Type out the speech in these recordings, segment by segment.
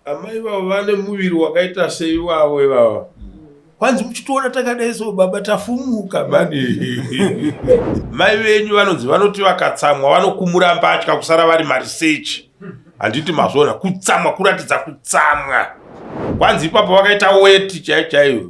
Amai vavo vane muviri wakaita sei vavo ivava? Kwanzi muchitoona takadai so baba tafumuka mani. Mai venyu vanonzi vanoti vakatsamwa vanokumura mbatya kusara vari marisechi. Handiti mazvona kutsamwa kuratidza kutsamwa. Kwanzi ipapo vakaita weti chaiyo chaiyo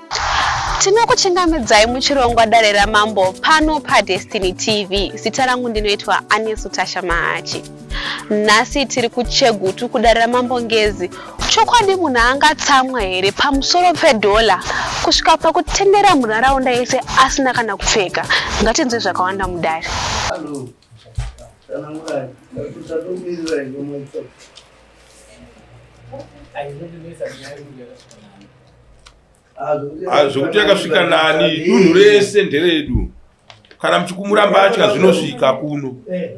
Tinokuchingamidzai muchirongwa Dare raMambo pano paDestiny TV. Zita rangu ndinoitwa Anesu Tasha Mahachi. Nhasi tiri kuChegutu kuDare raMambo Ngezi. Chokwadi munhu angatsamwa here pamusoro pedhola kusvika pakutendera munharaunda yese asina kana kupfeka? Ngatinzwe zvakawanda mudare. Hello. ah, zvekuti yakasvika nani dunhu rese nderedu kana muchikumura mbatya zvinosvika kuno eh,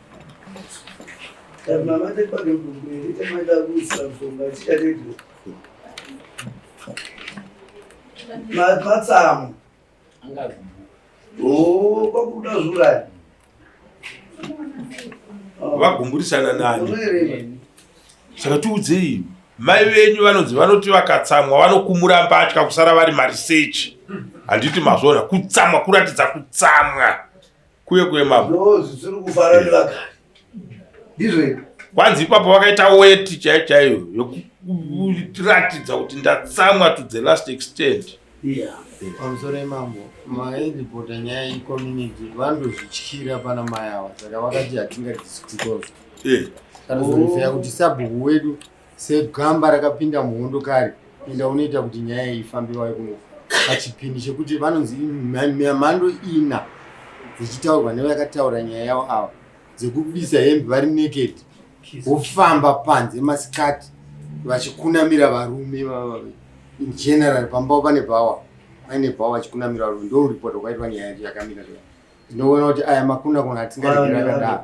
matsamu kwakuda zurani vagumburisana nani saka tiudzei mai venyu vanonzi vanoti vakatsamwa vanokumura mbatya kusara vari marisechi handiti mazvona kutsamwa kuratidza kutsamwa kuye kuye mambo ndozvitsuri kufara nevagari ndizvo iko kwanzi ipapo vakaita weti chaiyo chaiyo yokutiratidza kuti ndatsamwa to the last extent pamusoro imambo maedipota nyaya yecommunity vanotozvityira pana mai ava saka vakati hatingadisikutozo kana zvoifeya kuti sabhuku wedu segamba rakapinda muhondo kare enda unoita kuti nyaya iyi ifambe vave kuno pachipini chekuti vanonzi mhando ina dzichitaurwa nevakataura nyaya yavo ava dzekubisa hembe vari naked vofamba panze masikati vachikunamira varume in general pambao pane bhawa aine bhawa vachikunamira varume ndouripota kwaitwa nyaya yacho yakamira ndinoona kuti aya makunakuna atingaregerakadaro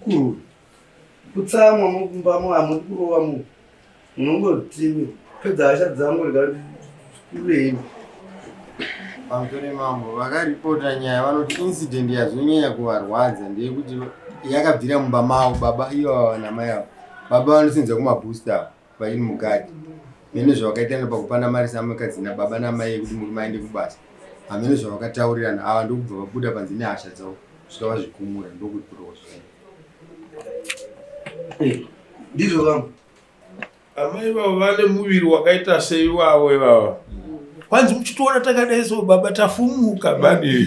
Kuru. Kutsamwa mukumbamo hamudi kurova munhu. Munongoti pedza hasha dzangu rega kurei. Pamutore mambo vakaripota nyaya vanoti incident yazonyanya kuvarwadza ndeyekuti yakabvira mumba mavo baba iyo namai avo. Baba vanosenza kumabooster avo. Vaini mukati mene zvavakaitirana pakupana mari samukadzi nababa namai yekuti muri maende kubasa hamene zvavakataurirana ava ndokubva vabuda panze nehasha dzavo svika vazvikumura ndokuti kurowa zvaa eh, ndizvo vamwe amai vavo vane muviri wakaita sei wavo ivava kwanzi muchitoona takadai so baba tafumuka bani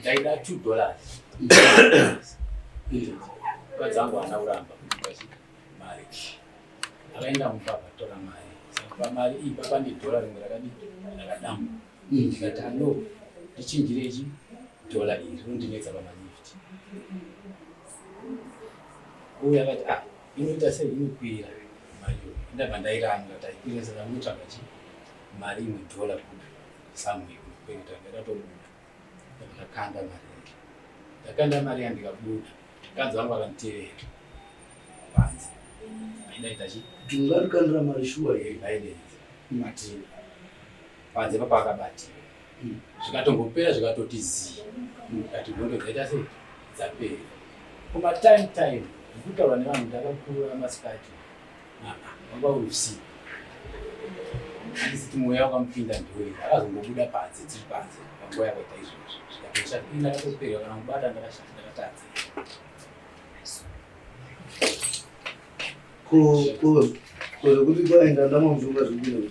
ndaida two dollars vadzangu ana kuramba mari akaenda mumba akatora mari saka mari iyi papa ndidhora rimwe rakadii rakadamba ndikati ando ndichinjirechi dhola iri rondinetsa pamalifti uye akati ah inoita sei inokwira mari ndabva ndairanga taikwira saka munotsvaga chi mari imwe dhola kupi Samuel kuenda ndakatobuda ndakakanda mari yangu ndakanda mari yangu ndikabuda mukadzi wangu akanditevera panze aindaita chi ndingarikandira mari shuwa here ndaidenza matini panze papa akabatia hmm. zvikatongopera zvikatoti zii ndikati hmm. hondo dzaita sei dzapera kuma time time ndikutaura nevanhu ndakakura masikati Baba usi. Asi mweya wakamupinda ndiwe. Akazongobuda panze tiri panze. Panguva yakaita izvozvo. Zvikapisha pinda katopera kana kubata ndakashanda ndakatadza. Ko ko ko kuti kwaenda ndamomvunga zvibiro.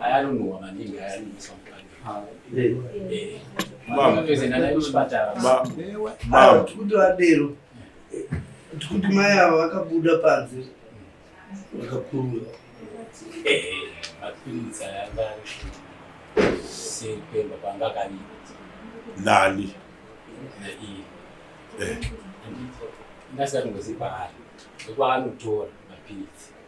ayanonowa maningi ayanonosa kuti vadero tikuti mai ava vakabuda panze vakakurura mapiritsa yanga sepemba panga kani nani ndasati ngozipa ari nekuanotora mapiritsi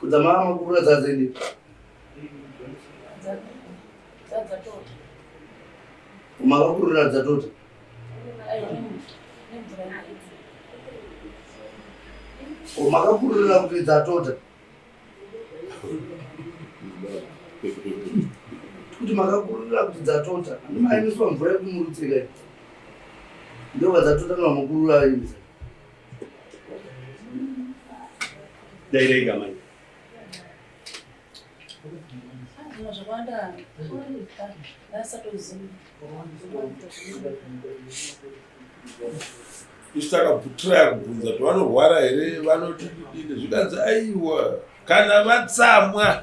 kudzamara makuru adzadzende makakurira adzatota makakurira kuti dzatota kuti makakurira kuti dzatota andimaemiswa mvura yekumurutsekai ndovadzatota namakurura aimisa Dairega manje. Isu takabvutiraya kubvunza kuti vanorwara here vanoti kudini zvikanzi aiwa kana vatsamwa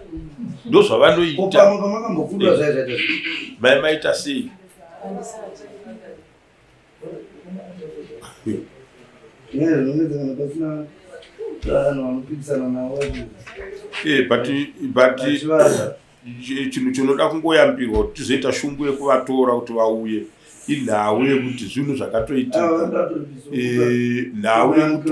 ndozvavanoita mai maita sei Eh, but but chinhu chinoda kungoyambirwa kuti tizoita shungu yekuvatora kuti vauye inhau yekuti zvinhu zvakatoitika ah, eh, nhau yekuti